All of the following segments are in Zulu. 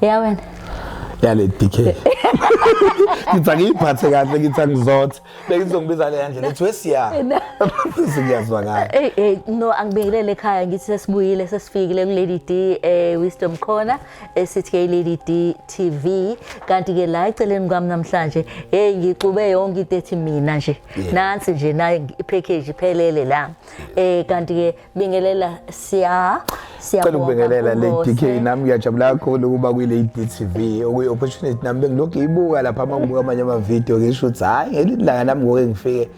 ya wena yale DK ngithi angiyiphathe kahle ngithi angizothe bengizongibiza le yandlela ethi wesiya singiyazwa ngayo hey hey no angibingelele ekhaya ngithi sesibuyile sesifikile ku Lady D eh Wisdom Corner esithi ke Lady D TV kanti ke la eceleni kwami namhlanje hey ngixube yonke into ethi mina nje Yeah. nansi nje naye ipackage iphelele la eh kanti ke bingelela siya cela siyabonga ukubingelela le kuBose. DK nami ngiyajabula kakhulu ukuba kwi-Lady TV okuyi opportunity nami bengilokhu ibuka lapha uma ngibuka amanye ama-video ngisho ukuthi hhayi ngelinye ilanga nami ngoke ngifike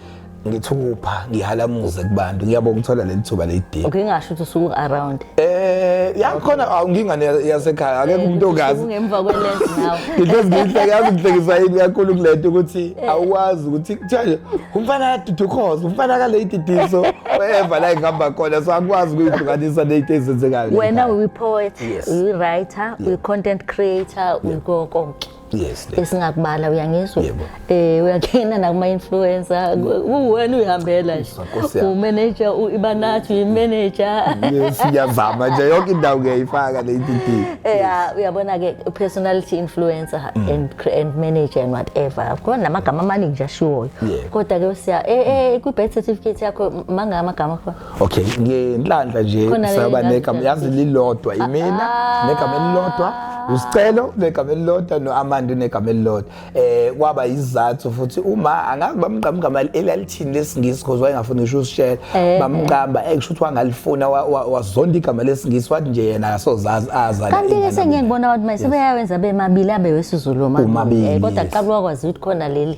ngithukupha ngihalamuze kubantu ngiyabonga ukuthola leli thuba lady ngingasho ukuthi usuku around Eh yakhona awungingane yasekhaya akekho umuntu ongazi. Ungemva kwelens now. Ngithozi ngihleke yazi ngihlekisa yini kakhulu kulento ukuthi eh. awuwazi ukuthi kuthiwa nje umfana kadudukhoza umfana ka lady diso whatever la ngihamba khona so akwazi ukuyihlukanisa late ezenzekayo. Wena uyi poet, uyi writer, uyi content creator, uyi konke. yes esingakubala uyangizwa eh uyangena nakuma influencer uwena uyihambela nje u manager u ibanathi uyi manager yes ngiyazama nje yonke indawo ngiyayifaka le DD eh uyabona ke personality influencer mm. and and manager and whatever khona amagama amaningi nje ashiwoyo kodwa ke usiya eh eh ku birth certificate yakho mangama amagama akho okay ngenhlanhla nje Khona le saba ngazi negama yazi ngiyazizwa. lilodwa imina Ah. negama elilodwa usicelo negama elilodwa no-amanda unegama elilodwa um kwaba yizathu futhi uma angazi bamqambugama elalithini lesingisi because wayengafuni ngisho usishela Eh, bamqamba eh kusho ukuthi wangalifuna wa- wa- wazonda igama lesingisi wathi nje yena akasozazi aza kanti ke sengike ngibona abantu manje sebeyawenza bemabili abe wesizulu Umabili, kodwa yes. Mm. kuqala wakwazi ukuthi khona leli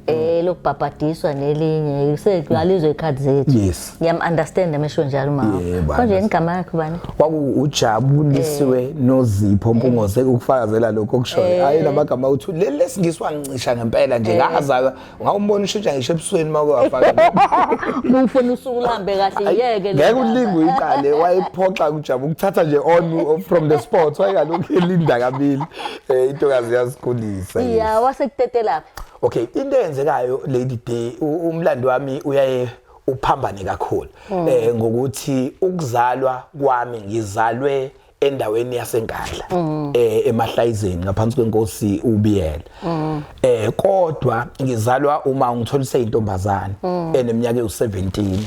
eh lokubhabhadiswa nelinye sekuyalizwe ikhadi zethu Yes. ngiyam understand amesho njalo mama Yebo, konje understand. igama yakho bani kwakujabulisiwe nozipho mpungose ukufakazela lokho okushoyo hayi lamagama uthi leli lesingiswa ngicisha ngempela nje ngazalwa ngawumbona ushintsha ngisho ebusweni uma kwafaka mufuna usuku luhambe kahle yeke ngeke ulinga uyiqale wayephoxa kujaba ukuthatha nje on from the spot wayengalokhu elinda kabili um intokazi yazikhulisa yes. ya wasekutetelaphi okay into eyenzekayo lady day umlando wami uyaye uphambane kakhulu mm. eh ngokuthi ukuzalwa kwami ngizalwe endaweni yasenkandla mm. eh emahlayizeni ngaphansi kwenkosi ubiyela mm. eh kodwa ngizalwa uma ngithola iseyintombazana mm. eneminyaka ewu17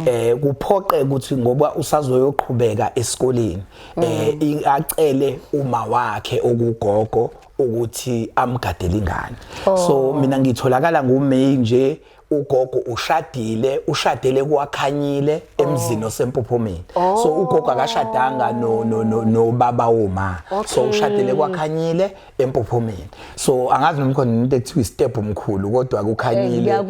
eh kuphoqe ukuthi ngoba usazoyoqhubeka esikoleni eh acele uma wakhe okugogo ukuthi amgadele ingane oh. so mina ngitholakala nguMay nje ugogo ushadile ushadele kwakhanyile oh. emzini osempophomeni oh. so ugogo akashadanga no no no, no baba woma okay. so ushadele kwakhanyile empophomeni so angazi noma khona into ekuthiwa step omkhulu kodwa kukhanyile eh,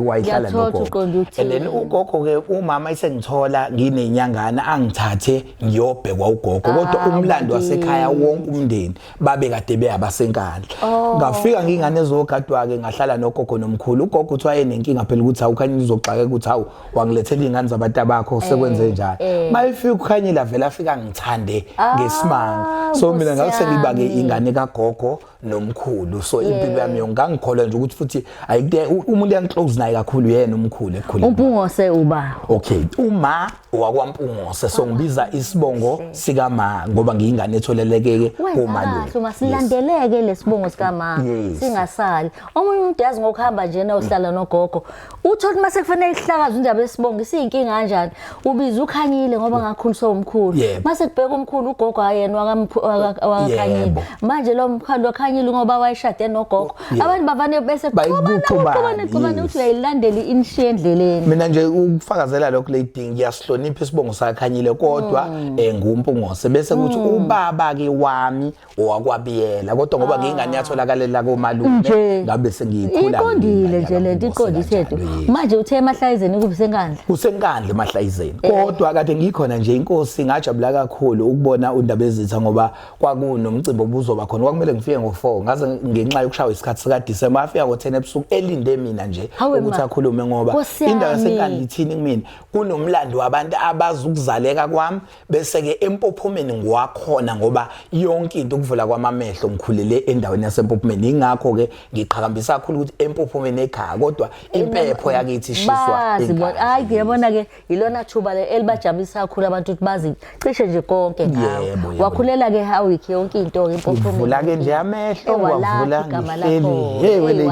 wayihlala nogogo and then ugogo ke umama isengithola nginenyangana angithathe ngiyobhekwa ugogo kodwa ah, umlando wasekhaya wonke umndeni babe kade beyabasenkandla oh. ngafika ngingane ezogadwa ke ngahlala nogogo nomkhulu ugogo uthi wayenenkinga phela ukuthi awukhanye uzoxaka ukuthi hawu wangilethela ingane zabantu abakho eh, sekwenze njalo eh. mayifika ukhanyile avela afika ngithande ah, ngesimanga so mina ngase ngibake ingane kagogo nomkhulu so impilo yami yonke ngangikholwa nje ukuthi futhi ayike umuntu engiclose naye kakhulu yena umkhulu ekhulile umpungose uba okay uma wakwampungose so ngibiza isibongo sika ma ngoba ngiyingane etholelekeke komalume uma silandeleke lesibongo sika ma singasali omunye umuntu yazi ngokuhamba nje na uhlala nogogo Uthola ukuthi mase kufanele ihlakaze indaba yesibongo isiyinkinga kanjani? Ubiza ukhanyile ngoba ngakhuliswa umkhulu. Yebo. Mase kubheka umkhulu ugogo ayena wakamkhu- waka- wakakhanyile. Yebo. Manje lo mkhulu wakhanyile ngoba wayeshade nogogo. Yebo. Abantu bavane bese Bayikuxubana, kuxubana kuxubana yes. ukuthi uyayilandela inshiya endleleni. mina nje ukufakazela lokho lady ngiyasihlonipha isibongo sakhanyile kodwa Mm. eh ngumpungose bese kuthi ubaba ke wami owakwabiyela kodwa ngoba ngiyingane yatholakalela komalume Nje. ngabe sengiyikhula iqondile nje lento iqondise tu manje uthe emahlazeni kubi senkandla kusenkandla emahlazeni kodwa kade ngikhona nje inkosi ngajabula kakhulu ukubona undaba ezitha ngoba kwakunomcimbi obuzoba khona kwakumele ngifike ngo4 ngaze ngenxa yokushawa isikhathi sika December afika ngo10 ebusuku elinde mina nje Hawe ma. ukuthi akhulume ngoba Nkosi indawo yami. yasenkandla ithini kumina kunomlando wabantu abazukuzaleka kwami bese ke empophomeni ngwakhona ngoba yonke into ukuvula kwamamehlo ngikhulele endaweni yasempophomeni ingakho ke ngiqhakambisa kakhulu ukuthi empophomeni ekhaya kodwa impepho yakithi ishiswa ekhaya hayi ngiyabona ke ilona thuba le elibajabulisa kakhulu abantu ukuthi bazi cishe nje konke ngawe wakhulela ke hawiki yonke into ke empophomeni ngivula ke nje amehlo ngwavula ngihleli hey wele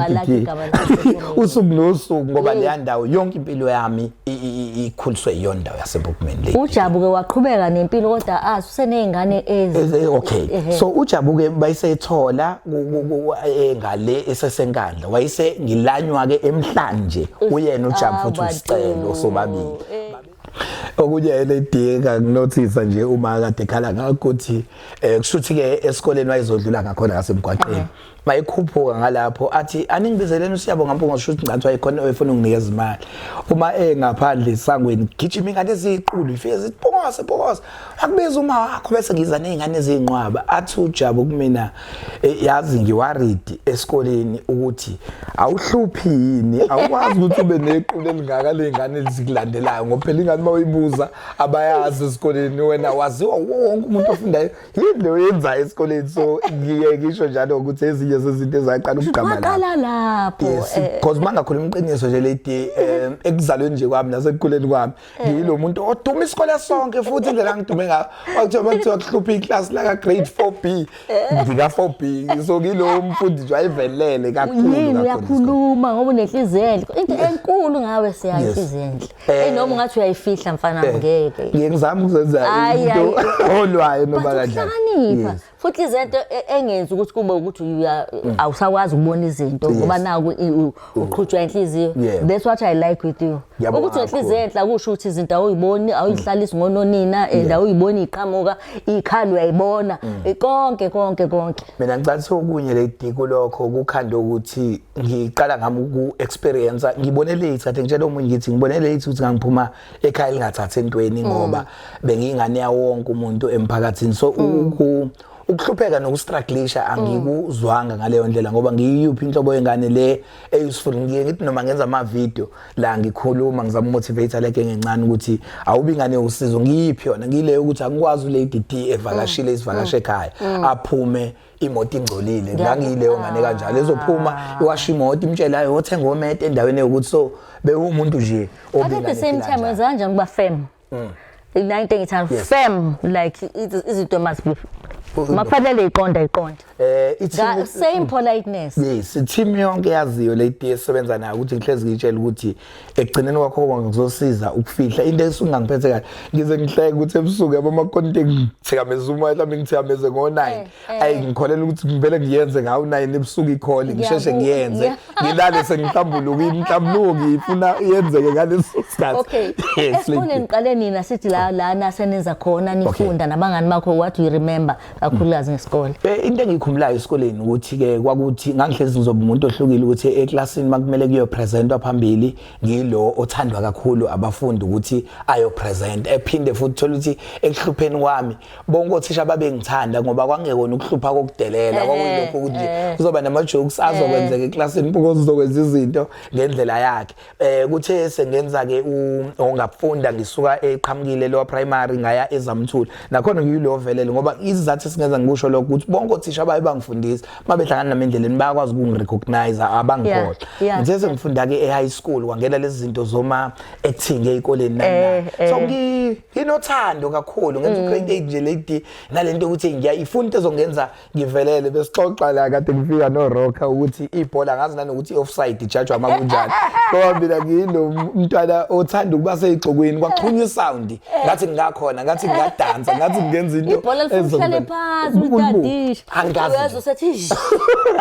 usuku nosuku ngoba leya ndawo yonke impilo yami ikhuliswe yiyo ndawo yasebookman le ujabuke waqhubeka nempilo kodwa azi ah, useneyingane ezi okay so ujabuke bayiseyithola eh, ngale esesenkandla wayise ngilanywa ke emhlanje uyena ujabu ah, futhi usicelo sobabili eh. okunye elidinga nginothisa nje uma kade khala ngakuthi eh, kushuthi ke esikoleni wayezodlula ngakhona ngasemgwaqeni uh-huh. mayekhuphuka ngalapho athi aningibizeleni usiyabonga mpunga usho ukuthi ngathi wayekhona efuna unginikeza imali uma engaphandle esangweni gijima ingane eziyiqulu ifike zithi phokose phokose akubiza uma wakho bese ngiza nezingane ezinqwaba athi ujabu kumina e, yazi ngiwaridi esikoleni ukuthi awuhluphi yini awukwazi ukuthi ube nequlu elingaka lezingane ezikulandelayo ngoba phela ingane uma uyibuza abayazi esikoleni wena waziwa wonke umuntu ofundayo yini oyenzayo esikoleni so ngiye ngisho njalo ukuthi ezinye zezinto ezaqala ukugqama lapho waqala lapho yes eh. because mangakhuluma iqiniso nje lady eh, ekuzalweni nje kwami nasekukhuleni kwami eh. ngiyilo muntu oduma isikole sonke futhi indlela ngidume ngayo wakuthiwa bakuthiwa kuhlupha iclass la ka grade 4B ngika 4B so ngilo mfundi nje wayevelele kakhulu yini uyakhuluma ngoba unenhliziyo enhle into enkulu ngawe siyayihlizindle Eh. Hey noma ungathi uyayifihla mfana eh. ngeke. Ngeke ngizama ukuzenza into olwayo noma kanjani. Uhlakanipha. Futhi izento e, engenzi ukuthi kube ukuthi mm. awusakwazi ukubona izinto ngoba naku mm. uqhutshwa inhliziyo. That's what I like with you. Ukuthi inhliziyo enhla kusho ukuthi izinto awuyiboni, awuyihlalisi mm. ngononina and awuyiboni iqhamuka, ikhalo uyayibona. Konke konke konke. Mina ngicatha okunye lady kulokho kukhanda ukuthi ngiqala ngami uku-experience ngibone late kade ngitshela omunye ngithi ngibone late ukuthi ngangiphuma ekhaya lingathathi entweni mm. ngoba bengiyingane yawonke umuntu emphakathini so mm. ukuhlupheka nokustruglisha mm. angikuzwanga ngaleyo ndlela ngoba ngiyiyuphi inhlobo yengane le eyuseful ngiye ngithi noma ngenza ama-video la ngikhuluma ngizama umotivator leke ngencane ukuthi awubi ingane yowusizo ngiyiphi yona ngiyileyo ukuthi angikwazi ulady d evakashile isivakashe ekhaya aphume mm. imoto ingcolile ngangiyileyo ngane kanjalo ezophuma ah. iwasha imoto imtshele hayi wothenga omete endaweni yokuthi so bewumuntu nje obinga at the same time wenza kanjani kuba firm mm. la into engithanda yes. firm like izinto must be makufanele iqonda iqonda eh ithi same politeness yes team yonke yaziyo le team esebenza nayo ukuthi ngihlezi ngitshela ukuthi ekugcineni kwakho konke kuzosiza ukufihla into esingangiphethe kahle ngize ngihleke ukuthi ebusuku yabo amakonti ngithikameza uma mhlawumbe ngithikameze ngo-9 eh, eh. ayi ngikholela ukuthi ngivele ngiyenze ngawu-9 ebusuku ikhole ngisheshe ngiyenze ngilale sengihlambuluka inhlambuluko ngiyifuna yenzeke ngaleso sikhathi esifundeni qale nina sithi la lana senenza khona nifunda nabangani bakho what you remember kakhulukazi ngesikole Eh, into engiyikhumbulayo esikoleni ukuthi-ke kwakuthi ngangihlezi ngizoba umuntu ohlukile ukuthi eklasini makumele kuyopresentwa phambili ngilo othandwa kakhulu abafundi ukuthi ayopresenta ephinde futhi thole ukuthi ekuhlupheni kwami bonke othisha babengithanda ngoba kwangekona ukuhlupha kokudelela kwakuyilokho ukuthi nje kuzoba nama-jokes azokwenzeka eklasini mpokozi uzokwenza izinto ngendlela yakhe eh kuthe sengenza ke ongafunda ngisuka eqhamukile lowa primary ngaya ezamthula nakhona ngiyilo velele ngoba izizathu esingenza ngikusho lokho ukuthi bonke othisha baye bangifundisa mabehlangana nami endleleni bayakwazi ukungirecognize abangikhohle ngithe sengifunda ke e-high school kwangena lezi zinto zoma acting ezikoleni nana eh, eh. so nginothando kakhulu ngenza u28 mm. nje lady nalento ukuthi ngiyayifunda ezongenza ngivelele besixoxa la kade ngifika no Rocker ukuthi ibhola ngazi nanokuthi offside ijajwa uma kunjani ngoba mina ngilo mntwana othanda ukuba seyigxokweni kwaxhunywa isound eh. ngathi ngingakhona ngathi ngingadansa ngathi ngenza into ibhola lifuhlale phansi utadisha angazi uyazi usethi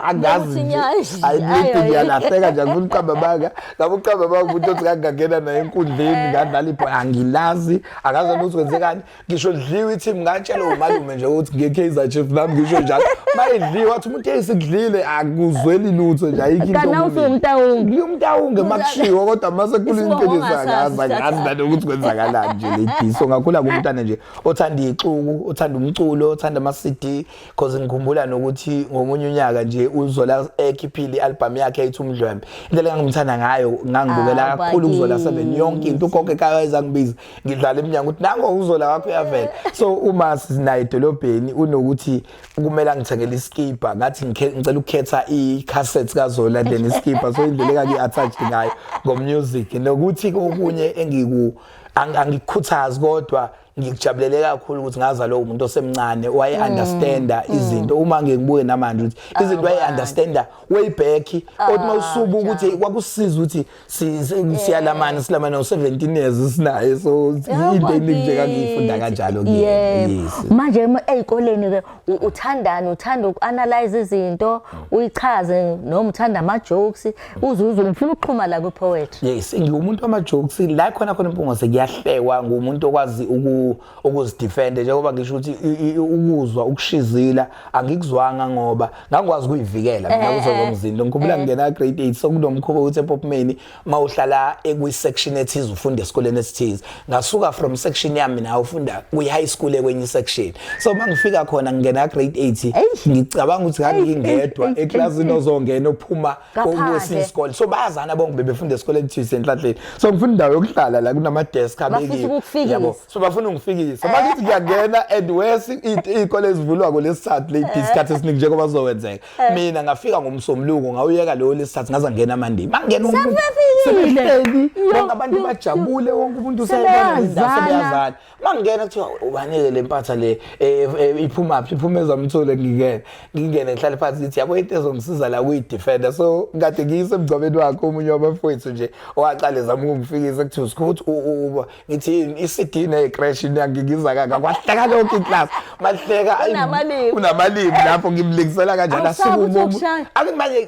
angazi ayibidi ngiyalahleka nje ngifuna uqamba baka labo uqamba baka umuntu othi kangangena naye enkundleni ngadlala ibhola angilazi akazi ukuthi kwenzekani ngisho lidliwe ithi ngingatshela umalume nje ukuthi nge-kaizer chief nami ngisho njalo uma idliwe wathi umuntu eyisikudlile akuzweli lutho nje ayikho into kanti awufi umtawungi ngiyumtawunge uma kushiwo kodwa uma sekhula impilo zakaza ngazi nani ukuthi kwenzakalani nje lady so ngakhula kumntana nje othanda ixuku othanda umculo othanda ama-cd cause ngikhumbula nokuthi ngomunye unyaka nje uzola ekhiphile i-albhamu yakhe ayithi umdlwembe indlela engangimthanda ngayo ngangibukela ah, kakhulu kuzola seven yonke into ugogo ekaya ezangibiza ngidlala emnyango ukuthi nango uzola wakho uyavela so uma sinaye edolobheni unokuthi kumele angithengele iskipper ngathi ngicela ukukhetha i-cassette kazola then iskipper so indlela engaku-attached ngayo ngomusic nokuthi kokunye engiku angikhuthazi kodwa ngikujabulele kakhulu ukuthi ngaza lowo muntu osemncane waye mm. understanda mm. izinto uma ngibuye namanje ukuthi ah, izinto waye understanda way back kodwa ah, usubuka ukuthi kwakusiza ukuthi Si- si- siyalamana silamana u-17 years sinaye so into Yabona eningi nje kangiyifunda kithi. kanjalo kuyena Yebo. yes manje ema- ey'koleni ke u- uthandani uthanda uku-analyze izinto uyichaze noma uthanda ama-jokes uzuze ngifuna ukuxhuma la kwi-poetry yes ngiwumuntu wama-jokes la khona khona impungose kuyahlekwa nguwumuntu okwazi uku- ukuzidefende njengoba ngisho ukuthi i- i- ukuzwa ukushizila angikuzwanga ngoba ngangikwazi ukuyivikela mina kuzo zomzimba ngikhumbula ngingena grade 8 sokunomkhuba ukuthi epopmeni uma uhlala ekwi-section ethize ufunda esikoleni esithize ngasuka from section yami nawe ufunda kwi-high school ekwenye i-section so uma ngifika khona ngingena grade 8 ngicabanga ukuthi ngangingedwa eklasini ozongena ophuma kwesinye isikole so bayazana bonke bebefunda esikole ekuthiwa senhlahleni so ngifuna indawo yokuhlala la kunama-desk abekiwe so bafuna ungifikisa bakithi ngiyangena and wes iy'kole ezivulwako lesithathu late eh. isikhathi esiningi njengoba zizowenzeka eh. mina ngafika ngomsombuluko ngawuyeka leyo lesithathu ngaze ngena amandini mangena umuntu sebehleli bonke abantu bajabule wonke umuntu useyazana mangingena kuthiwa ubanike le mpatha le eh, eh, iphuma phi iphuma ezamthule ngingene ngingene ngihlale phansi ngithi yabo into ezongisiza la kuyidefender so kade ngiyise emgcwabeni wakhe omunye wabafowethu nje owaqale zama ukungifikisa kuthiwa sikuthi uba ngithi i-cd necrash ngiyiza kaka kwahleka lonke iclass mahleka unamalimi lapho ngimlingisela kanjani asuke umuntu angimaye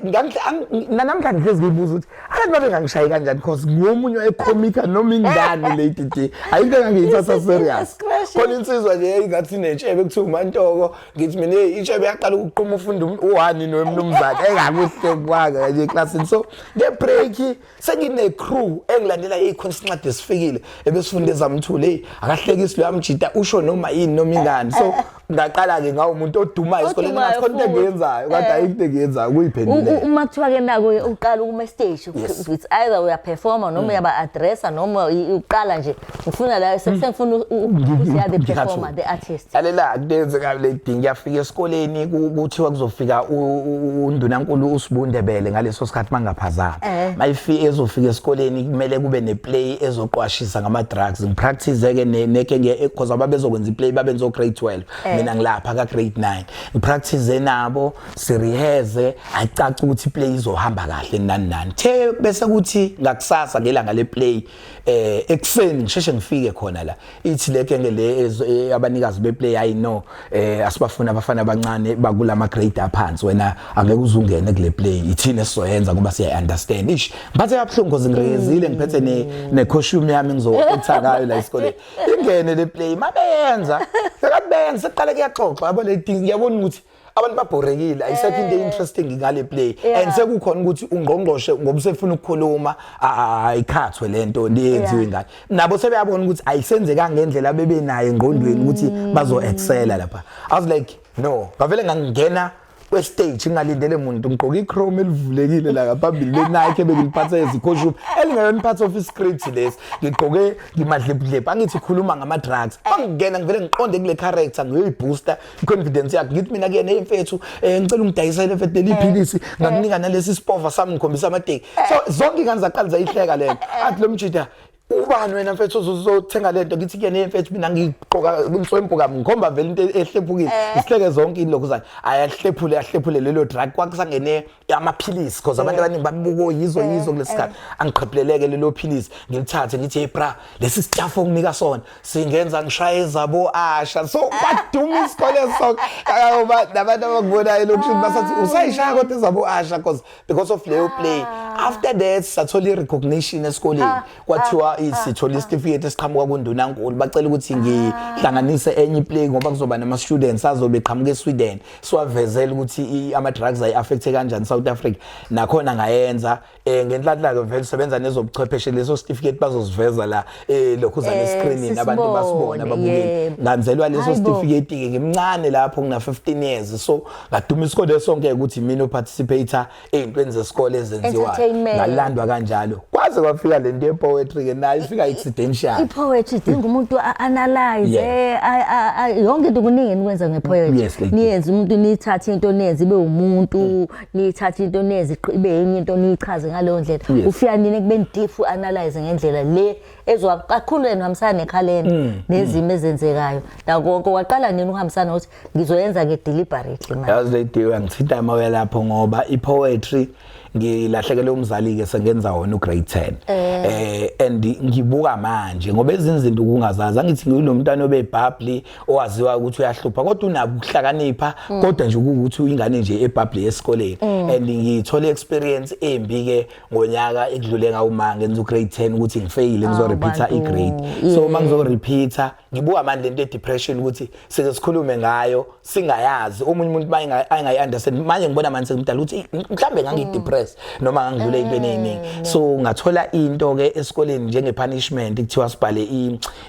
nanamhlanje ngihlezi ngiyibuza ukuthi abantu babengangishayi kanjani because ngomunye ecomica noma ingane lady d ayinto engangiyithatha serious khona insizwa nje eyingathi netshebe kuthiwa umantoko ngithi mina itshebe yaqala ukuquma ufunda um-, uhani nomnumzane engakuhle kwaka kanje eklasini so ngebreak sengine-crew engilandela ikhonsincwadi esifikile ebesifunda ezamthule eyi akahlekisi loyamjita usho noma yini noma ingani so ngaqala-ke ngawo umuntu odumayo esikoleni Odumayo ngathi khona into futhi. engiyenzayo kade Eh. ayikho into engiyenzayo U- u- ukuyiphendulela uma kuthiwa ke nako uqala ukuma estage Yes. it's either uyaperforma noma uyaba-addressa noma i- uqala nje ngifuna la se- sengifuna u- u- ukuthi you are the Ngikhathele. performer the artist lalela kuyenzeka le ding ngiyafika esikoleni ku- kuthiwa kuzofika u- u- u- undunankulu usibundebele ngaleso sikhathi mangaphazama Eh. mayifi ezofika esikoleni kumele kube ne play ezoqwashisa ngama drugs ngipractice ke neke ngiye eh, because ababezokwenza iplay babenzo grade 12 eh. mina ngilapha ka grade 9 ngipractice nabo si rehearse acaca ukuthi play izohamba kahle nani nani the bese kuthi ngakusasa ngelanga le play eh ekseni ngisheshe ngifike khona la ithi le kenge le e, abanikazi beplay i know eh asibafuna abafana abancane bakulama grade aphansi wena angeke uzungene kule play ithina esizoyenza ngoba siya understand ish ngiphathe kabuhlungu ngoze ngirezile ngiphethe ne ne costume yami ngizokutha ngayo la isikole ingene le play mabeyenza sekabenza seqale kuyaxoxa yabo le thing yabona ukuthi abantu babhorekile ayisekho into interesting ngale play and sekukhona ukuthi ungqongqoshe ngoba usefuna ukukhuluma ayikhathwe lento ndiyenziwe ngayo nabo sebeyabona ukuthi ayisenzeka ngendlela bebe naye ngqondweni ukuthi mm. bazo excela lapha i was like no ngavele ngangena kwestage ngalindele muntu ngigqoka ichrome elivulekile la ngaphambili lenike ebengiliphatha ezikhoshuba elingeyona part of iscript lesi ngigqoke ngimadlepudlephu angithi khuluma ngama-drugs angingena ngivele ngiqonde kule character ngiyoyibooster confidence yakhe ngithi mina kuyena hey mfethu eh, ngicela ungidayisele mfethu leli eh, philisi eh. ngakunika nalesi sipova sami ngikhombisa amateki so zonke ingane zaqala zayihleka lento athi lo mjida ubani wena mfethu uzothenga lento ngithi kuyena hey mfethu mina ngiqoka inswempu kami ngikhomba vele into ehlephukile isihleke zonke ilokhu zani ayahlephule ahlephule lelo drug kwakusangene amaphilisi because abantu abaningi babuka oyizwe oh, yizwe kulesikhathi eh. angiqhephuleleke lelo philisi ngilithathe ngithi hey bra lesi sitafu onginika sona singenza ngishaye zabo asha so kwaduma ah. isikole so ayoba nabantu abakubonayo lokuthi ah. basathi usayishaya kodwa zabo asha because because of leyo play ah. after that sathola recognition esikoleni kwathiwa sithola isitifiketi esiqhamuka kundunankulu bacela ukuthi ngihlanganise enye play ngoba kuzoba nama students azobe qhamuka eSweden siwavezela ukuthi ama drugs ay affect kanjani South Africa nakhona ngayenza eh ngenhlanhla ke vele sebenza nezobuchwepheshe leso certificate bazosiveza la eh lokhu za ne eh, screening abantu basibona babuke nganzelwa leso certificate ke ngimncane lapho ngina 15 years so ngadumisa kodwa sonke ukuthi mina uparticipator ey'ntweni zesikole ezenziwayo Entertainment. ngalandwa kanjalo kwaze kwafika le nto ye-poetry ke nayo ifika accidential i-poetry idinga umuntu a-analyze Yeah. a- a- a- yonke into kuningi enikwenza nge-poetry Yes, lady. niyenze umuntu niyithathe into niyenze ibe umuntu niyithathe into niyenze iqi- ibe enye into niyichaze ngaleyo ndlela Yes. ufika nini ekubeni deep u-analyze ngendlela le ezwa kakhulu yena uhambisana nekhalenda nezimo ezenzekayo nakonke waqala nini ukuhambisana ukuthi ngizoyenza ke deliberately manje yazi lady uyangithinta emoya lapho ngoba i poetry ngilahlekele umzali ke sengenza wona u grade 10 eh. eh and ngibuka manje ngoba ezinzinto kungazazi angithi nginomntana obebhabli owaziwa ukuthi uyahlupha kodwa unabo ukuhlakanipha mm. kodwa nje ukuthi uyingane nje ebhabli esikoleni mm. and ngithole experience embi ke ngonyaka ekudlule ngawuma ngenza u grade 10 ukuthi ngifeyile ngizo ah, repeater i grade so uma ngizo repeater ngibuka manje lento depression ukuthi sike sikhulume ngayo singayazi omunye umuntu maye angayi understand manje ngibona manje sengimdala ukuthi mhlambe ngangi depress noma ngangidlule into eningi mm. so ngathola into ke esikoleni njenge punishment kuthiwa sibhale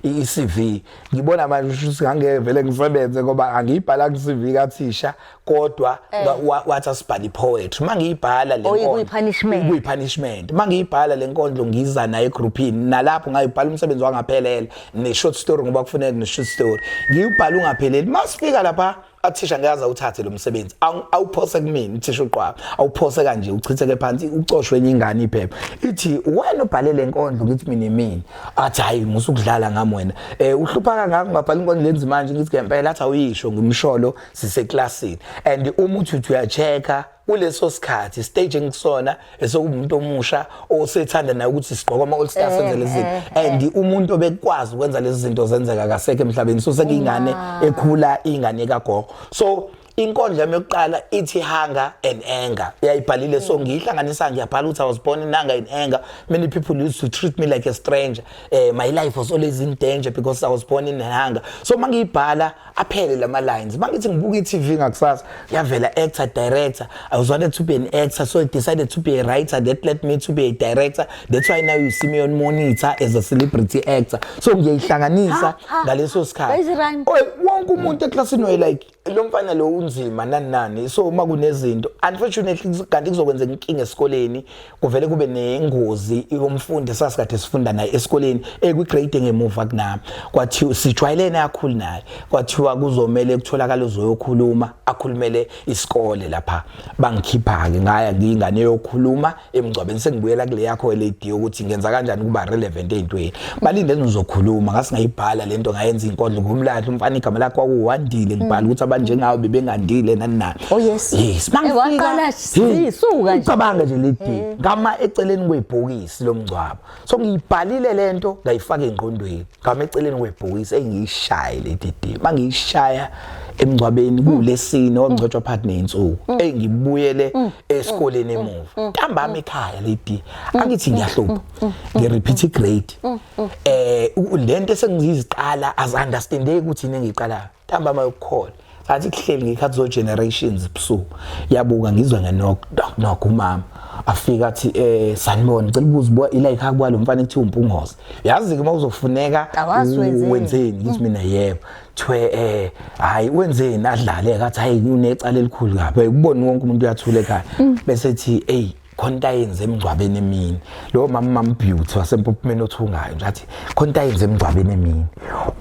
i CV ngibona manje ukuthi ngangevele ngisebenze ngoba angiyibhala ku CV kathisha kodwa eh. wathi asibhale ipoetry mangiyibhala le nkondlo kuyipunishment kuyipunishment mangiyibhala le nkondlo ngiza naye egroupini nalapho ngayibhala umsebenzi wangaphelela ne short story ngoba kufuneka ne short story ngiyibhala ungapheleli masifika lapha athisha ngeke azawuthathe lo msebenzi awuphose kumina uthisha uqwaba awuphose kanje uchitheke phansi ucoshwe enye ingane iphepha ithi wena ubhale le nkondlo ngithi mina imini athi hayi musukudlala ngami wena um uhlupha kangaka ungabhala inkondlo lenzi manje ngithi ngempela athi awuyisho ngimsholo siseklasini and uma uthi uthi uya-check-a kuleso sikhathi stage engisona esokumuntu omusha osethanda naye ukuthi sigqoke ama all stars eh, senze lezi zinto eh, eh. and umuntu obekwazi ukwenza lezi zinto zenzeka kasekho emhlabeni so sekuyingane ekhula ingane kagogo so inkondla yami yokuqala ithi hunger and anger uyayibhalile so ngiyihlanganisa ngiyabhala ukuthi i was born in hunger and anger many people used to treat me like a stranger uh, my life was always in danger because i was born in hunger so uma ngiyibhala aphele lama lines mangithi ngibuka iTV ngakusasa yavela actor director I was wanted to be an actor so I decided to be a writer that led me to be a director that's why now you see me on monitor as a celebrity actor so ngiyihlanganisa ngaleso sikhathi wonke umuntu eclassini way like lo mfana lo unzima nani nani so uma kunezinto unfortunately kanti kuzokwenzeka inkinga esikoleni kuvele kube nengozi yomfundi esasikade sifunda naye esikoleni ekwigrade engemuva kunami kwathiwa sijwayelene akhulu naye kwathiwa kuzomele kutholakala uzoyokhuluma akhulumele isikole lapha bangikhipha-ke ngaya ngiyingane yokhuluma emngcwabeni sengibuyela kule yakho lady yokuthi ngenza kanjani ukuba relevant ey'ntweni balinde ngizokhuluma ngasingayibhala le nto ngayenza inkondlo ngumlahla umfana igama lakho kwakuwandile ngibhala ukuthi abanjengawo bebengandile nani nani oh yes yes Sisuka nje. Ucabange nje le day Eh. ngama eceleni kwebhokisi lomngcwabo. So ngiyibhalile lento ngayifaka engqondweni. Ngama eceleni kwebhokisi engiyishaye le day. Mangiyishaya emngcwabeni kulesini ongcotshwa phakathi nensuku. Engibuyele esikoleni emuva. Ntambama ekhaya le day. Angithi ngiyahlupha. Ngi repeat i grade. Eh u- lento esengiziqala as understandeki ukuthi yini engiqalayo. ntambama yokukhona ngathi kuhleli ngekhathi zo-generations busuku yabuka ngizwa ngenoknok umama afika athi um eh, sanibona ngicela ubuza uba ila yikhaya kwalo mfana ekuthiwa umpungoze yazi-ke uma kuzofuneka wenzeni ngithi mm. mina yebo kuthiwe um eh, hhayi wenzeni adlale kathi hhayi unecala elikhulu kabi ubone wonke umuntu uyathula ekhaya mm. bese ethi eyi khona into ayenze emngcwabeni emini lowo mama mama beauty wasempophumeni othungayo nje athi khona into ayenze emngcwabeni emini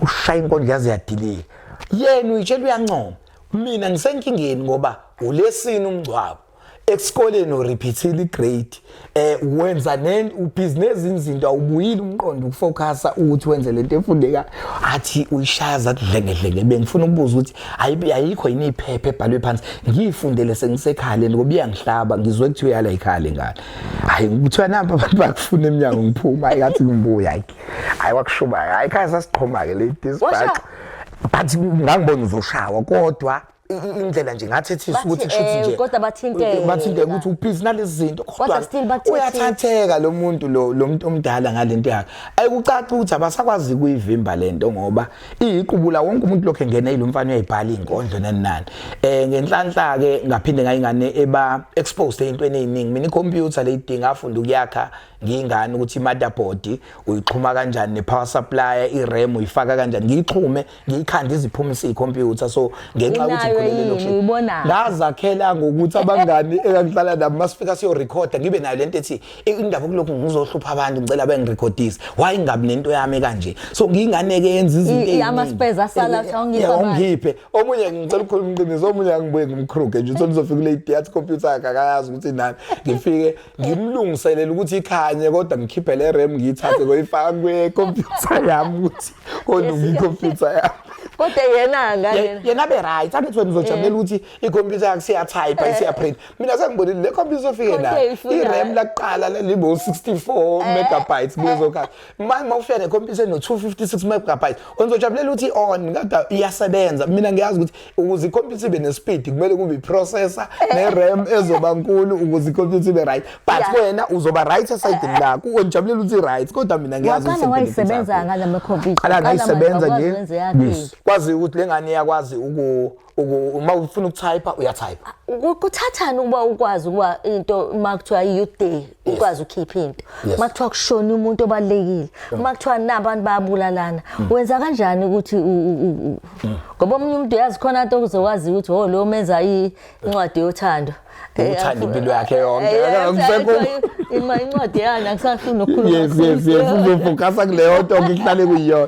ushaya inkondlo yaze yadilika yena uyitshela uyancoma mina ngisenkingeni ngoba ulesini umngcwabo esikoleni urepeatile igrade eh wenza nen ubusiness izinto awubuyile umqondo ukufocusa ukuthi wenze lento efundeka athi uyishaya zathi dlengedlenge bengifuna ukubuza ukuthi hayibi ayikho yini iphepha ebhalwe phansi ngiyifundele sengisekhale ngoba iyangihlaba ngizwe kuthiwa yala ikhale ngane hayi kuthiwa namba abantu bakufuna eminyango ngiphuma hayi ngathi ngibuya hayi hayi wakushuba hayi khaya sasiqhoma ke late sibhaxa but ngangibona uzoshawa kodwa indlela nje ngathethisa ukuthi kusho ukuthi eh, nje kodwa bathinteke eh, bathinteke ukuthi upeace nalezi zinto kodwa uyathatheka lo muntu lo lo muntu omdala ngalento yakhe ayikucaca ukuthi abasakwazi kuyivimba lento ngoba iyiqubula wonke umuntu lokho engena yilo mfana uyayibhala ingondlo nenani eh ngenhlanhla ke ngaphinde ngayingane eba exposed entweni eziningi mina icomputer leyidinga afunda ukuyakha ngiyingane ukuthi i-motherboard uyixhuma kanjani ne-power supply i-ram uyifaka kanjani ngiyixhume ngiyikhanda iziphumise i-computer so ngenxa yokuthi ngikhulele lokhu ngazakhela ngokuthi abangani engangihlala nabo masifika siyorekhoda ngibe nayo lento ethi indaba yokulokhu ngizohlupha abantu ngicela bengirekhodise why ngabi nento yami kanje so ngiyingane ke yenza izinto eziningi amaspeza asala eh, awungipha eh, ungiphe omunye ngicela ukukhuluma iqiniso omunye angibuye ngimkhruge nje uthi ngizofika kule theater computer yakhe akayazi ukuthi nani ngifike ngimlungiselele ukuthi ikhanye kodwa ngikhiphe le RAM ngiyithathe koyifaka kwe computer yami ukuthi kolunga icomputer yami kodwa yena ngane yena be right angithi wena uzojabulela eh. ukuthi icomputer yakhe siyatype isiyaprint mina sengibonile le computer izofike Konke la ifuna- i-ram lakuqala lelibo 64 megabytes kuzoka manje mawufika ne computer no 256 megabytes onzojabulela ukuthi on kodwa iyasebenza mina ngiyazi ukuthi ukuze i-computer ibe ne-speed kumele kube i-processor ne-ram ezoba nkulu ukuze i-computer ibe right but Yeah. wena uzoba right esayidini lakho ongijabulela ukuthi i-right kodwa mina ngiyazi waqala ukuthi wayisebenza ngala makhompyutha qala ngayisebenza nje Yes. kwazi ukuthi lengane iyakwazi uku Uku- uma ufuna ukutypa uyatypa Ku- kuthathani ukuba ukwazi ukuba into uma kuthiwa i-youth day ukwazi ukhipha into Yes. uma kuthiwa kushona umuntu obalulekile uma kuthiwa nabantu bayabulalana Mm. wenza kanjani ukuthi u- u- u- u- ngoba omunye umuntu uyazi khona nto kuze waziwe ukuthi o lo menza i- incwadi yothando Eh, uthanda impilo yakhe yonke eh, eh, akusekho ima incwadi yani akusafuni nokukhuluma yes yes yes uzofocus kuleyo nto ngihlale kuyona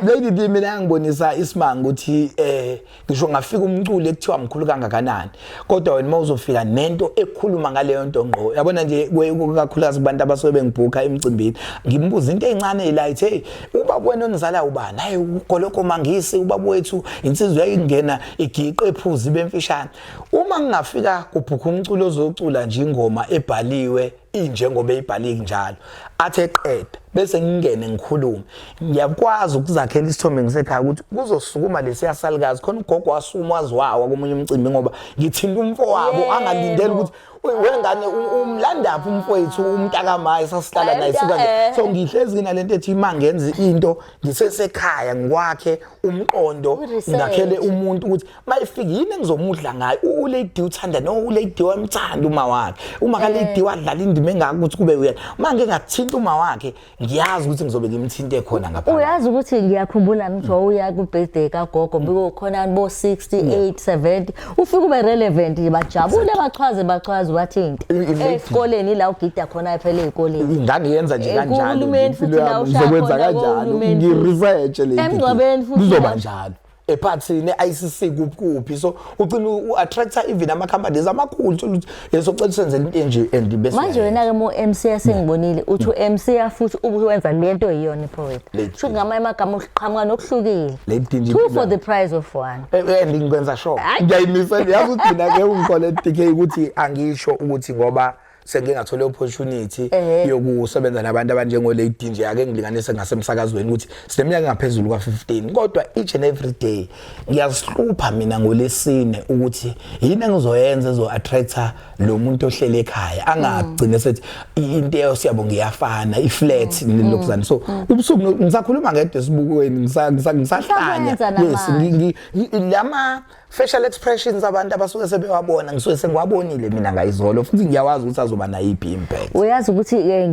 lady di mina ngibonisa isimanga ukuthi eh ngisho ngafika umculi ekuthiwa mkhulu kangakanani kodwa wena mawuzofika nento ekhuluma ngaleyo nto ngqo yabona nje kakhulukazi kubantu abasuke bengibhukha emcimbini ngimbuza into encane ilight hey uba wena onizala ubani hayi ugoloko mangisi ubaba wethu insizwa yayingena igiqe ephuzi bemfishane Uma ngingafika kubhukha umculo ozocula nje ingoma ebhaliwe injengoba eyibhaliki njalo athi eqeda bese ngingene ngikhulume ngiyakwazi ukuzakhela isithombe ngisekhaya ukuthi kuzosukuma lesiya salukazi khona ugogo wasukuma waziwawa komunye umcimbi ngoba ngithinta umfo wabo angalindeli ukuthi wengane umlandaphi umfowethu umntakamaye sasihlala naye sikanje eh. so ngihlezi nginalento ethi uma ngenza into ngisesekhaya ngikwakhe umqondo ngakhele umuntu ukuthi mayifika yini engizomudla ngayo ulady uthanda no ulady wamthanda uma wakhe uma kalady eh. wadlala indima engaka ukuthi kube uyena uma ngeke ngathinta uma wakhe ngiyazi ukuthi ngizobe ngimthinte khona ngapha uyazi ukuthi ngiyakhumbula ngithi wawuya ku birthday ka gogo biko khona bo 68 70 ufike ube relevant bajabule bachwaze bachwaze wathinte esikoleni la ugida khona ephele ezikoleni ingane yenza nje eh, kanjalo uhulumeni futhi la ushaya khona uhulumeni ngi research le emngcwabeni futhi kuzoba njalo ephathini ne-ICC kuphi kuphi so ugcina u-attractor even ama-companies amakhulu thola ukuthi yeso cela usenzele into enje and bese manje wena-ke mu-mc asengibonile uthi mm. u-mc afuthi ubuwenza le nto yiyona ipoet sho ngamanye amagama uqhamuka nokuhlukile two for the price of one eh, eh, and ngikwenza sure ngiyayimisa yazi ukuthi mina-ke ungikholea ukuthi angisho ukuthi ngoba sengike ngathola opportunity eh. yokusebenza nabantu abanjengo lady nje ake ngilinganise ngasemsakazweni ukuthi sineminyaka engaphezulu kwa15 kodwa each and every day ngiyazihlupha mina ngolesine ukuthi yini engizoyenza ezo attractor lo muntu ohlele ekhaya angagcine mm. sethi into eyo siyabo ngiyafana iflat mm. mm. lokuzana so ubusuku ngisakhuluma ngedwa esibukweni ngisahlanya yes lama facial expressions abantu abasuke sebewabona ngisuke sengiwabonile mina ngayizolo futhi ngiyawazi ukuthi azoba nayo iphi impact uyazi ukuthi eh,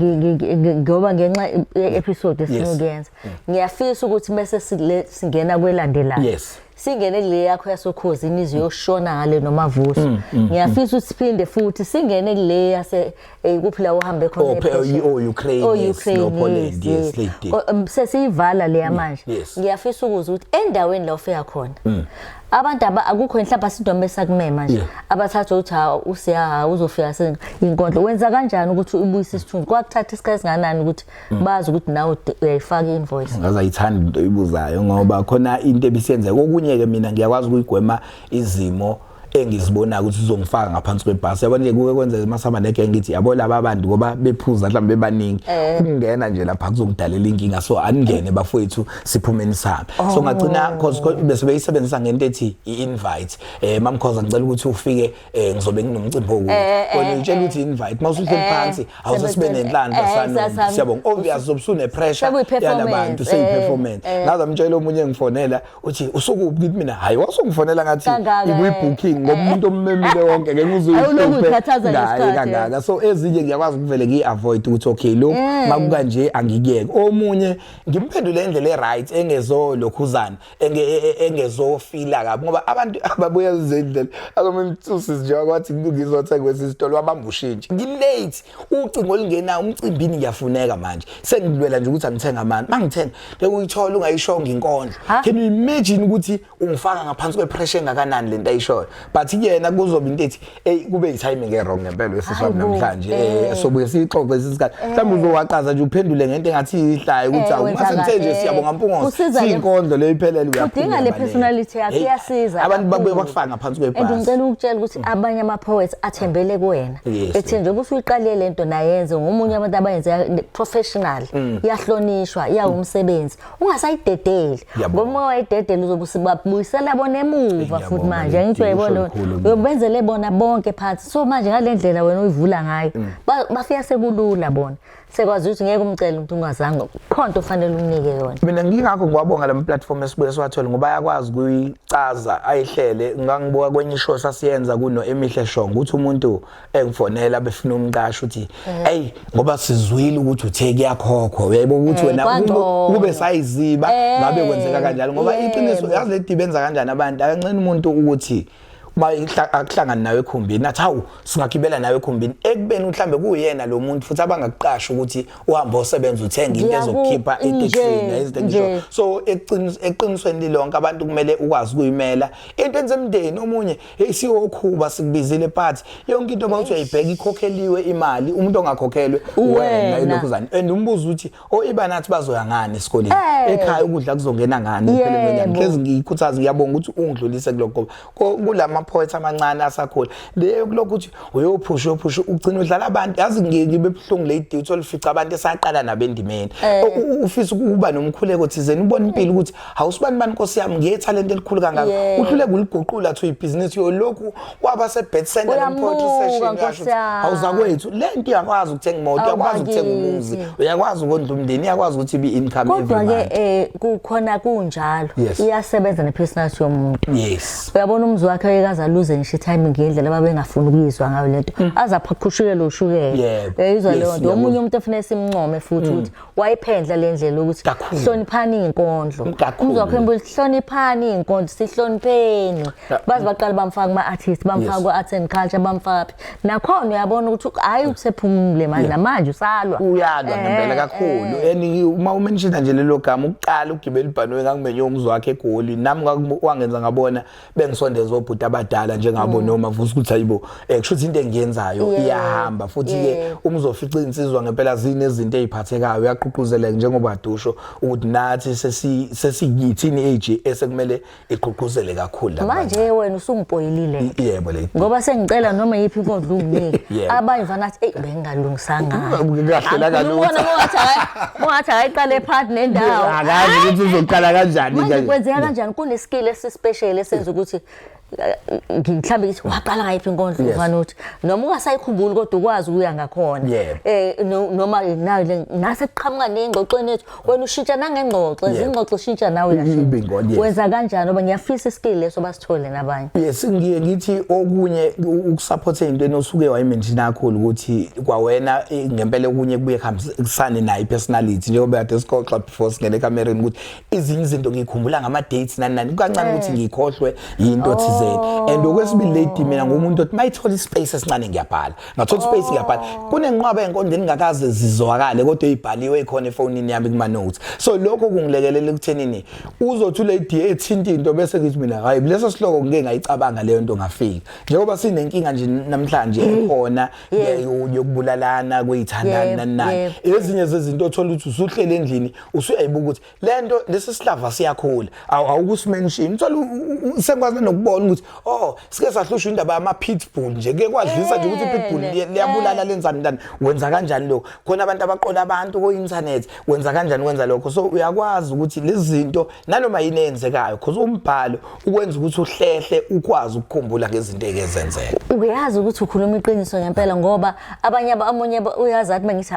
ngoba ngenxa episode esinokuyenza mm. ngiyafisa ukuthi bese singena kwelandelayo yes singene kule yakho yasokhozi imizwe yoshona ngale nomavuso mm, mm, ngiyafisa ukuthi siphinde futhi singene kule yase Eh kuphi la uhambe khona Oh, pe- ePrussia? oh, Ukraine, Oh, yes, Ukraine, no, Poland, yes, yes. late day. Oh, um, sesiyivala leya manje yes. Mm. ngiyafisa ukuza ukuthi endaweni la ufika khona abantu aba- akukho mhlawumbe asidome sakumema nje Yeah. abathatha ukuthi ha usiyaha uzofika seyinkondlo wenza kanjani ukuthi ubuyise isithunzi kwakuthatha isikhathi esinganani ukuthi Mm. bazi ukuthi nawe ude- uyayifaka i-invoice ngaze ayithanda into oyibuzayo ngoba khona into ebisiyenzeka okunye-ke mina ngiyakwazi ukuyigwema izimo engizibonayo ukuthi uzongifaka ngaphansi kwebhasi yabona nje kuke kwenzeka masihamba neke ngithi yabo laba bantu ngoba bephuza mhlawumbe bebaningi eh. ukungena nje lapha kuzokudalela inkinga so aningene eh. bafowethu siphumeni sami so oh. ngagcina cause bese beyisebenzisa ngento ethi i-invite eh mamkhoza ngicela ukuthi ufike eh, ngizobe nginomcimbi wokuthi eh, wena ngitshela ukuthi invite mawuse uhleli phansi awuze sibe nenhlanhla sana siyabonga obvious zobusune pressure yalabantu seyi performance ngaze mtshela omunye ngifonela uthi usukuphi kithi mina hayi wasungifonela ngathi ikwi-booking ngoba eh. umuntu ommemile wonke ngeke uzuyikhathazangaye kangaka so ezinye ngiyakwazi ukuvele ngiyi-avoid ukuthi okay lokhu eh. makukanje angikuyeke omunye ngimphendule indlela e-right engezolokhuzana e, e, engezofila kabi ngoba abantu ababuya zendlela akamemthusi njengoba kwathi ngizothenga kwesi sitolo wabamba ushintshi ngilate ucingo olungenayo umcimbini ngiyafuneka manje sengilwela nje ukuthi angithenga amani mangithenga le uyithola ungayishonga inkondlo can you imagine ukuthi ungifaka ngaphansi kwepressure engakanani lento ayishoyo but kuyena kuzoba into ethi hey kube yitiming erong ngempela wesiswa namhlanje eh, eh sobuye sixoxe isisikhathi eh. mhlawumbe uzowaqaza nje uphendule ngento engathi ihlayo ukuthi eh, awumase ngithe nje siyabonga mpungosi siyinkondlo le iphelele uyaphila udinga le personality yakhe iyasiza abantu babuye bakufaka ngaphansi kwebhasi and ngicela ukutshela ukuthi mm. abanye ama poets athembele kuwena ethi nje kusuyiqalile lento nayenze ngomunye abantu abayenze professional Mm. iyahlonishwa iyawumsebenzi ungasayidedeli ngoba wayidedela uzobusibabuyisela bona emuva futhi manje angithi uyayibona uyobenzele bona bonke phansi so manje ngale ndlela wena uyivula ngayo mm. bafika sekulula bona sekwazi ukuthi ngeke umcele umuntu ungazange khonto ofanele umnike yona mina ngingakho ngiwabonga lama platform esibuye siwathole ngoba ayakwazi kuyicaza ayihlele ngangibuka kwenye show sasiyenza kuno emihle shongo ukuthi umuntu engifonela befuna umqasho ukuthi eh. ey ngoba sizwile ukuthi uthe kuyakhokhwa uyayibona ukuthi eh, wena kube sayiziba eh. ngabe kwenzeka kanjalo ngoba iqiniso yazi le dibe enza kanjani abantu akancane umuntu ukuthi uma akuhlangani nawe ekhumbini athi hawu singagibela nawe ekhumbini ekubeni mhlambe kuyena lo muntu futhi abangakuqasha ukuthi uhambe osebenza uthenga into ezokukhipha etekisini izinto ngisho so eqinisweni lilonke abantu kumele ukwazi kuyimela into enze emndeni omunye Hey siwokhuba sikubizile part yonke into mawuthi uyayibheka ikhokheliwe imali umuntu ongakhokhelwe wena ilokhuzane and umbuzo uthi oiba oh, nathi bazoya ngani esikoleni eh. ekhaya ukudla kuzongena ngani empeleni wenyanga hlezi ngiyikhuthaza ngiyabonga ukuthi ungidlulise kuloko kulama poets amancane asakhula leyo kuloko ukuthi uyophusha uyophusha ugcina udlala abantu yazi ngeke bebuhlungu le duty olifica abantu esaqala nabendimeni eh. ufisa ukuba nomkhuleko thizeni ubona impilo ukuthi hawusibani bani nkosi yami ngethalente elikhulu kangaka yeah. uhlule kuliguqula to ibhizinisi yolokhu waba sebet center lompoetry session yasho hawuzakwethu le nto iyakwazi ukuthenga imoto uyakwazi ukuthenga umuzi uyakwazi ukondla umndeni iyakwazi ukuthi ibe income kodwa ke eh kukhona kunjalo iyasebenza ne personality yomuntu yes uyabona umzi wakhe uyekaza luze ngisho time ngendlela babengafuni ukuyizwa ngayo lento hmm. aza phaqhushukele ushukele uyayizwa leyo nto omunye umuntu efuna simncome futhi hmm. ukuthi wayiphendla le ndlela ukuthi Kakhulu. hloniphani iy'nkondlo Kakhulu. umzwa wakho embuza ukuthi hloniphani iy'nkondlo sihlonipheni Ka- baze baqale bamfaka kuma-artist bamfaka Yes. ku-arts and culture bamfaka phi nakhona uyabona ukuthi hhayi usephumule manje namanje usalwa uyalwa Eh, ngempela eh. kakhulu and you- uma umenshina nje lelo gama ukuqala ugibela ibhanoyi ngakumenye umzi wakhe egoli nami kwaku- wangenza ngabona bengisondeza obhuti abadala njengabo mm. noma vusa ukuthi ayibo eh kusho ukuthi into engiyenzayo iyahamba futhi ke umzofica insizwa ngempela zini izinto eziphathekayo uyaququzeleka njengoba adusho ukuthi nathi sesi sesikithini age esekumele iququzele kakhulu lapha manje wena usungipoyilile yebo le ngoba sengicela noma yipi inkonzo unginike abanye vanathi hey Alungisanga. Kahlela kalutho. Ungathi akayiqale part nendawo. Akazi ukuthi uzoqala kanjani kanje. Manje kwenzeka kanjani kuneskill esispecial esenza ukuthi mhlawumbe ngithi waqala ngayiphi inkondlo ufana uthi noma ungasayikhumbuli kodwa ukwazi ukuya ngakhona eh noma nayo ngase kuqhamuka nengxoxweni yethu wena ushintsha nangengxoxo Yeah. izingxoxo ushintsha nawe uyashintsha. Umbingoni, yes. wenza kanjani oba ngiyafisa iskill leso basithole nabanye yes ngiye ngithi okunye u- ukusupport into enosuke wayimention kakhulu ukuthi kwawena eh, ngempela okunye kubuye kuhambisane nayo personality njengoba kade sixoxa before singene ekamereni ukuthi izinye izinto ngikhumbula ngama dates nani nani kancane ukuthi ngikhohlwe yinto thizeni and okwesibili lady mina ngumuntu othi mayithola ispace esincane ngiyabhala ngathola oh. space ngiyabhala kunenqwaba yenkonde engingakaze zizwakale kodwa ibhaliwe ikhona efonini yami kuma notes so lokho kungilekelela ekuthenini uzothi le DA ethinta into bese ngithi mina hayi leso sihloko ngike ngayicabanga leyo nto ngafika njengoba sinenkinga nje namhlanje mm. ekhona yokubulalana kuyithandana nani ezinye zezinto othola ukuthi usuhlele endlini usuyayibuka ukuthi lento lesi sihlava siyakhula awukusimention uthola sengikwazi nokubona ukuthi oh sike sahlushwa indaba yama pitbull nje ke kwadlisa nje ukuthi pitbull liyabulala lenzani ndani wenza kanjani lokho khona abantu abaqola abantu ko internet wenza kanjani wenza lokho so uyakwazi ukuthi lezinto nanoma yini eyenzekayo because umbhalo ukwenza ukuthi uhlehle ukwazi ukukhumbula ngezinto ekezenzeka uyazi ukuthi ukhuluma iqiniso ngempela ngoba abanye abamunye uyazi athi mangithi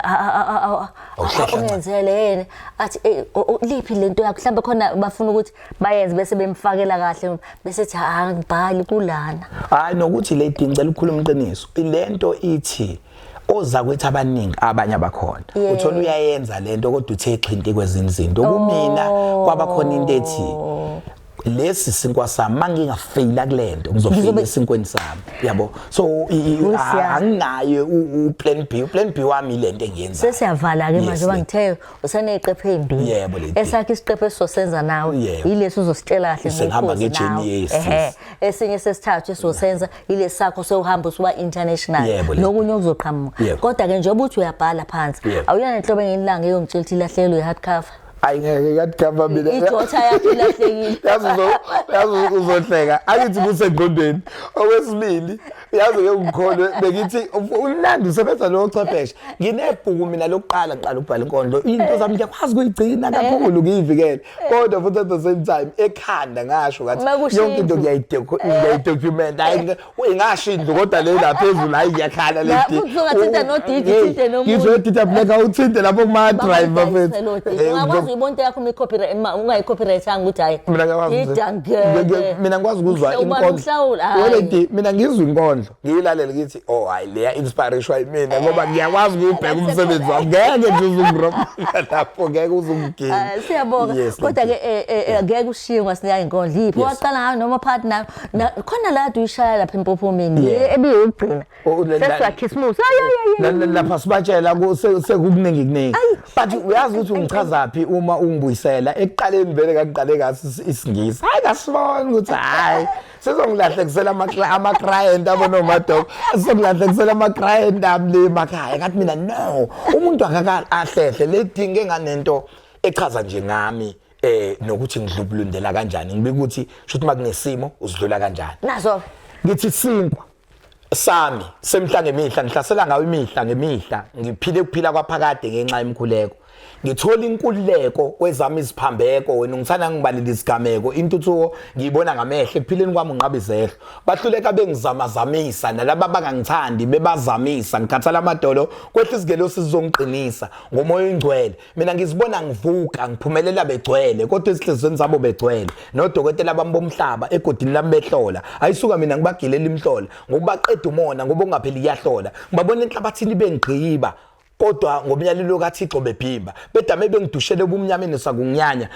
Awuhlehla nqa. uncinzele yena athi "Ey, o- o- liphi lento yakho mhlawumbe khona bafuna ukuthi bayenze bese bemfakela kahle bese thi ha ngibhali kulana hayi nokuthi le dini ngicela ukukhuluma iqiniso ilento ithi ozakwethu abaningi abanye abakhona Yeah. uthola uyayenza lento kodwa uthe xhinti kwezinye izinto kumina kwabakhona into ethi lesi sinkwa sami mangingafeyila kulento ngizofeyila esinkweni sami yabo so anginaye u plan B u plan B wami lento engiyenza sesiyavala ke manje bangithe useneqephe embi yebo lento esakhe isiqephe esizosenza nawe yilesi uzositshela kahle ngihamba ngejeni yesi ehe esinye sesithathu esizosenza yilesi sakho sewuhamba usuba international nokunye okuzoqhamuka kodwa ke njengoba uthi uyabhala phansi awuyona inhlobo engenilanga eyongitshela ukuthi ilahlelo ye hard cover ayi ngeke yadigava mina ijotha yakhe ilahlekile yazi yazi uzohleka angithi kusengqondweni okwesibili yazi ke ngikholwe bengithi unandi usebenza lo chwepheshe nginebhuku mina lokuqala ngiqala ukubhala inkondlo into zami ngiyakwazi kuyigcina kakhulu ngiyivikele kodwa futhi at the same time ekhanda ngasho ngathi yonke into ngiyayidokumenta hayi uyingasho indlu kodwa le la phezulu hayi ngiyakhala le dick uzoka thinta no dick thinte no muntu ngizwe thinta black awuthinte lapho kuma drive bafethu eh, ungakwazi ibonto yakho me copyright ungayi copyright anga ukuthi hayi mina ngiyakwazi idangele mina ngikwazi ukuzwa inkondlo wele dick mina ngizwa inkondlo ngiyilalele ngithi oh hayi leya inspiration mina eh. ngoba ngiyakwazi ukubheka umsebenzi wami ngeke nje uzungiropa lapho ngeke uzungigini eh, siyabonga kodwa ke ngeke ushiywe ngasiyayi inkondlo yiphi waqala ngayo noma partner Na- khona la kade uyishaya lapha empophomeni Yeah. le ebiyokugcina Oh, la- la- sesiwakhisimusi La- la- lapha sibatshela ku- se- sekukuningi kuningi Ayi. but uyazi ukuthi ungichazaphi uma ungibuyisela ekuqaleni vele kakuqale kaso is- isingisi hayi kasibona ukuthi hayi sizongilahlekisela amakla- ama-client abo nomadoko sizongilahlekisela ama-client ami le makhaya kathi mina no umuntu akaka ahlehle ledinga enganento echaza nje ngami eh nokuthi ngidlubulundela kanjani ngibika ukuthi shuthi makunesimo usidlula kanjani nazo ngithi sinkwa sami semhla ngemihla ngihlasela ngayo imihla ngemihla ngiphile ukuphila kwaphakade ngenxa yemkhuleko ngithola inkululeko kwezami iziphambeko wena ungithanda ngibalile isigameko intuthuko ngiyibona ngamehlo ekuphileni kwami unqaba izehlo bahluleka bengizamazamisa nalaba bangangithandi bebazamisa ngikhathala amadolo kwehla isigelo sizongiqinisa ngomoya oyingcwele mina ngizibona ngivuka ngiphumelela begcwele kodwa ezihlizweni zabo begcwele nodokotela bami bomhlaba egodini lami behlola ayisuka mina ngibagilela imhlola ngokubaqeda umona ngoba ungapheli iyahlola ngibabona enhlabathini bengigqiba kodwa ngomyalelo kaThixo bebhimba bedame bengidushele ubumnyameni sakunyanya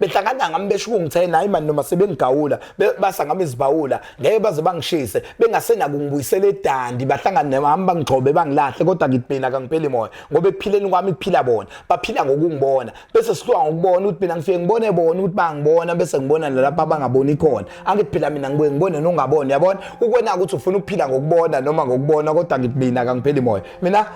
behlangana ngami besho ukungithena hayi mani noma sebengigawula basa ngami izibhawula ngeke baze bangishise bengasenako ngibuyisela edandi bahlangane nami bangigcobe bangilahle kodwa ngidibhina kangipheli moya ngoba ekuphileni kwami kuphila bona baphila ngokungibona bese sihluka ngokubona ukuthi mina ngifike ngibone bona ukuthi bangibona bese ngibona nalapha abangaboni khona angithi phela mina ngibuye ngibone nongaboni yabona ukwena ukuthi ufuna ukuphila ngokubona noma ngokubona kodwa ngidibhina kangipheli moya mina